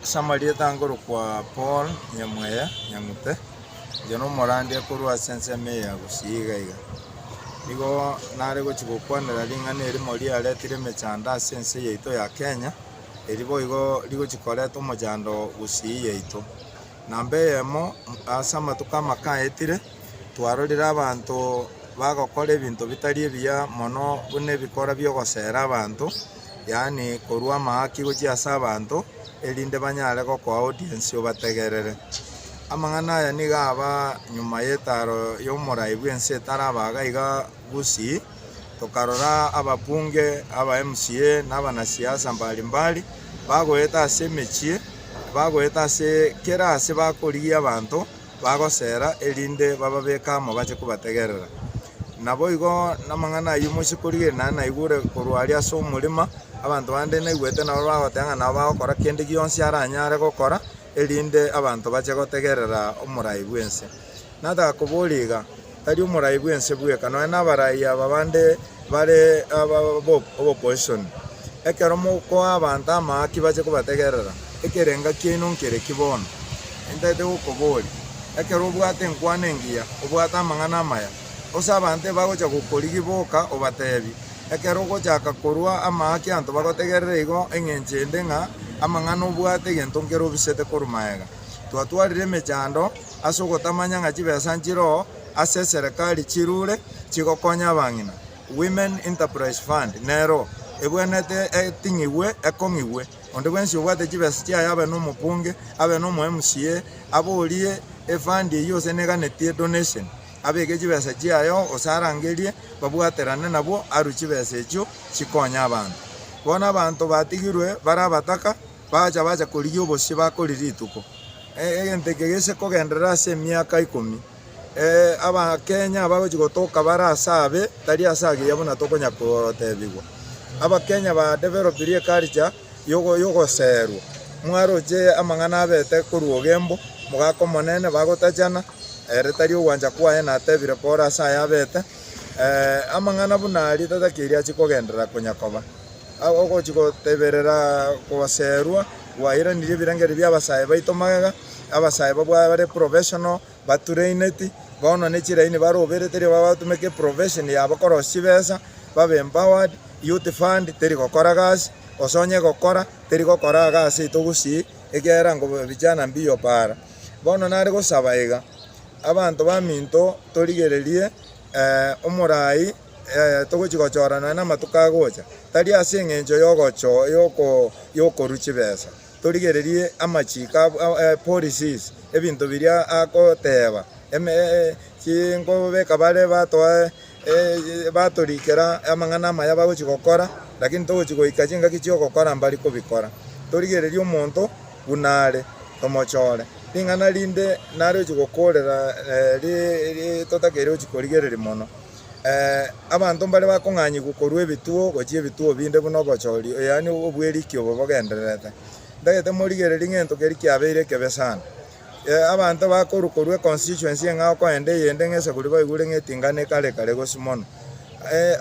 Ase amarieta akorokwa Paul Nyamweya Nyang'upe, oria nomorandia korwa ase ensemo eye ya Gusii iga iga, nigo nare gochia gokwanera ring'ana erimo riaretire emechando ase ense yaito ya Kenya, eri boigo rigochia koreta omochando Gusii yaito. Namba eyemo, ase amatuko amake aetire, twarorire abanto bagokora ebinto bitari ebiya mono buna ebikora bi'ogosera abanto, yaani korua amahaki gochia ase abanto, erinde banyare gokoa audience obategerere. Amang'ana aya nigo aba nyuma y'etaaro y'omorai bw'ense etaraba iga iga Gusii, tokarora ababunge, aba MCA, na abanasiasa mbari mbari bagoeta ase emechie, bagoeta ase kera ase bakorigia abanto bagosera erinde bababeke amo bache kobategerera. Naboigo namang'ana ayio mochie korigereria nare naigure korwa aria ase omorema, abanto bande naigwete nabo bagoteba ng'a nabo bagokora kende gionsi aranyare gokora, erinde abanto bache gotegerera omorai bw'ense. Nataka koboria iga, tari omorai bw'ense bweka, nonya nabarai aba bande bare aba bo opposition. Ekero mokoa abanto amaki bache kobategerera. Ekerenga kiaino nkere ki bono? Ntaete gokoboria, ekero obwate enkwana engiya, obwate amang'ana amaya, gose abanto ebagocha gokorigi boka obatebi, ekero ogochaka korua amaaki anto bagotegerere igo engencho ende ng'a amang'ana obwate egento nkere obisete korwa magega. Twatwarire emechando ase ogotamanya ng'a chibesa nchiroo ase eserekari chirure chigokonya abang'ina, Women Enterprise Fund, nero ebwenerete eting'igwe, ekong'igwe. Onde bwensi obwate chibesa chiaye abe nomokunge, abe nomo MCA, aborie efund eyio gose neganetie donation, abeke chibesa chiaye oo gose arangerie babwaterane nabwo arwe chibesa echio chikonye abanto. Bono abanto batigirwe bare abataka bagacha bacha korigia obosio bakori rituko. Egento eke gise kogenderera ase emiaka ikomi. Abakenya abagochia gotoka bare ase abe tari ase agiya buna tokonya kotebigwa. Abakenya ba developirie eculture yogoserwa. Mwaroche amang'ana abete korwa ogembo, mogaka omonene, bagotachana, ere tari ogwancha kwaye natebire pore ase aya abete. Amang'ana buna aria tatakeiri achia kogenderera konya koba. Ogochia goteberera koserwa. Gwairanirie ebirengererio bi'abasae baito magega, abasae babwo bare professional, batraineti, bono ne chiraini baroberete riroba bagotumeka eprofession yabo korosia chibesa, babe empowered, youth fund teri gokora gasi, gose onye egokora, teri gokora iga ase ito gusii, ekiagera nko vijana mbio paara. Bono nare gosaba iga, abanto baminto torigererie omorai. ee, togochia gochorana namatuko agocha, tari ase engencho y'okorua chibesa. Torigererie amachiko a policies, ebinto biria agoteba, nkobeka bare batoe batorikera amang'ana amaya bagochia gokora, lakini togochia goika chingaki chi'ogokora mbari kobikora. Torigererie omonto buna are, tomochore. Ring'ana rinde naro ochia gokorera totakeire gochia korigereria mono. Abanto mbare bakong'anyigwa korwa ebituo gochia ebituo binde buna obochori, yaani obweriki obo bogendererete. Ntagete morigererie ng'ento keria kiabeire ekebe sana. Abanto bakorwa korwa econstituency eng'ao koenda eyende ng'a eseguri baigure ng'a eting'ana ekare kare gose mono.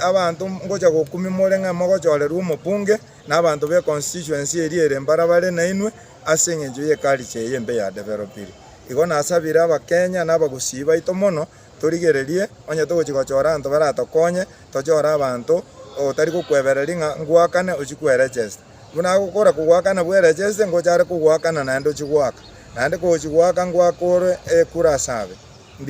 Abanto ngocha gokumia more ng'a mogochorerwa omobunge na abanto be constituency eria ere mbara bare nainwe ase eng'encho ye culture eye embe ya developire. Igo nasabire abakenya na abagusii baito mono Torigererie, onye togochia gochora abanto baratokonye, tochore abanto otari gokwebereria ng'a ngoakane ochie kwerechesta. Buna agokora kogoakana bwerecheste, ngocha are kogoakana naende ochie goaka. Naende kogochia goaka ngoakorwe ekura ase abe.